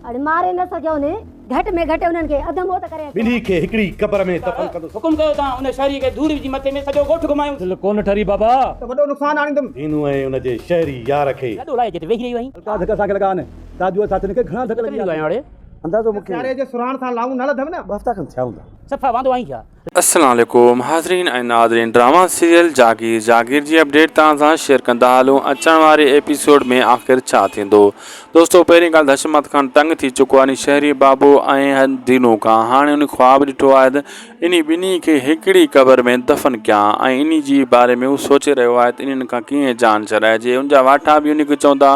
اڙ ماري نه سگهيو ني. گهٽ ۾ گهٽ انهن کي اڌ موت ڪري اچو. ٻلي کي هڪڙي قبر ۾ دفن ڪندس. حڪم ڪيو تان ان شهري کي ڌوڙ وجهي مٿي ۾ سڄو ڳوٺ گهمايونس. دل ڪونه ٺري بابا. ته وڏو نقصان آڻيندم. هينو ۽ ان جي شهري يار کي. گڏو لاهي جت ويهي رهيو آهين. الڪا ڌڪ اسان کي لڳا آهن. تاجوء ساٿين کي گهڻا ڌڪ لڳي ويا آهن. اندازو مون کي. سياري جي سرهاڻ سان لائون نه لڌم نه. ٻه هفتا کن ٿيا هوندا. صفا واندو آهين ڇا؟ السلام عليڪم حاضرين ۽ ناظرين ڊراما سيريل جاگير جاگير جي اپڊيٽ توهان سان شيئر ڪندا هلون اچڻ واري ايپيسوڊ ۾ آخر ڇا ٿيندو دوستو پهرين ڳالهه ته حشمت خان تنگ ٿي چڪو آهي انهي شهري بابو ۽ دينو کان هاڻي انهي خواب ڏٺو آهي ته انهي ٻنهي کي هڪڙي قبر ۾ دفن ڪيان ۽ انهي جي باري ۾ هو سوچي رهيو آهي ته انهن کان ڪيئن جان ڇڏائجي ان جا واٺا به انهي کي چوندا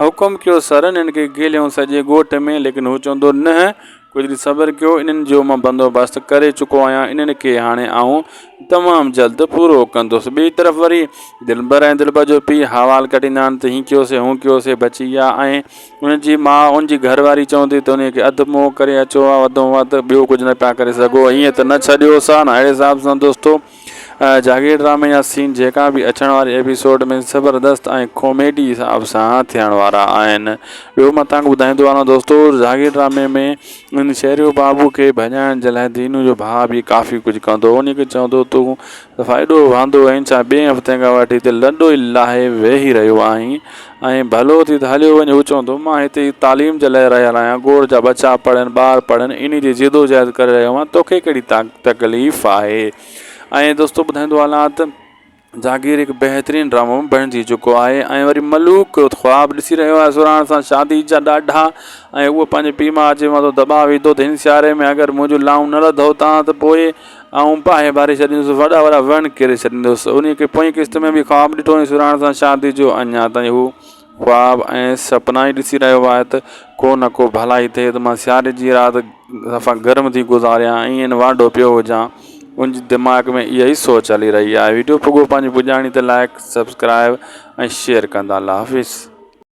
حڪم ڪيو سر انهن کي گهليون سڄي ڳوٺ ۾ ليڪن هو چوندو نه ڪجهه ڏينهن صبر ڪيو، انهن جو مان بندوبست ڪري چڪو آهيان، انهن کي هاڻي آئون تمام جلد پورو ڪندس. ٻئي طرف وري دلبر ۽ دلبر جو پيء حوال ڪڍيندا آهن ته هين ڪيوسين، هون ڪيوسين، بچي ويا ۽ ان جي ماء، ان جي گهر واري چوندي ته انهيء کي اڌ منهن ڪري اچو ها، وڌ ۾ وڌ ٻيو ڪجهه نه پيا ڪري سگهو، هيئن ته نه ڇڏيوس ها نه! اهڙي حساب سان دوستو! جاگير ڊرامي جا سين جيڪا به اچڻ واري ايپيسوڊ ۾ زبردست ۽ ڪاميڊي حساب سان ٿيڻ وارا آهن ٻيو مان توهان کي ٻڌائيندو هلان دوستو جاگير ڊرامي ۾ ان شهريو بابو کي ڀڄائڻ جي لاء دينو جو ڀاء به ڪافي ڪجهه ڪندو ان کي چوندو تون صفا ايڏو واندو آهين ڇا ٻئي هفتي کان وٺي هتي لڏو ئي لاهي ويهي رهيو آهين ائين ڀلو ٿي ته هليو وڃ هو چوندو مان هتي ئي تعليم جي لاء رهيل آهيان گوڙ جا ٻچا پڙهن ٻار پڙهن انهي جي جدوجهد ڪري رهيو آهيان توکي ڪهڙي تڪليف آهي ائين دوستو ٻڌائيندو هلان ته جاگير هڪ بهترين ڊرامو بڻجي چڪو آهي ۽ وري ملوڪ خواب ڏسي رهيو آهي سرهاڻ سان شادي جا ڏاڍا ۽ اهو پنهنجي پيء ماء جي مٿو دٻاء وڌو ته هن سياري ۾ اگر منهنجون لائون نه لڌو تان ته پوء آئون باهه ڀري ڇڏيندس، وڏا وڏا وڻ ڪري ڇڏيندس. انهيء کي پوئين قسط ۾ به خواب ڏٺو ۽ سرهاڻ سان شاديء جو اڃا تائين هو خواب ۽ سپنا ئي ڏسي رهيو آهي ته ڪو نه ڪو ڀلائي ٿئي ته مان سياري جي رات صفا گرم ٿي گذاريان ۽ ايئن وانڍو پيو هجان. ان جي دماغ ۾ اها ئي سوچ هلي رهي آهي. وڊيو پڳو پنهنجي پڄاڻي تي لائيڪ، سبسڪرائيب ۽ شيئر ڪندا. الله حافظ.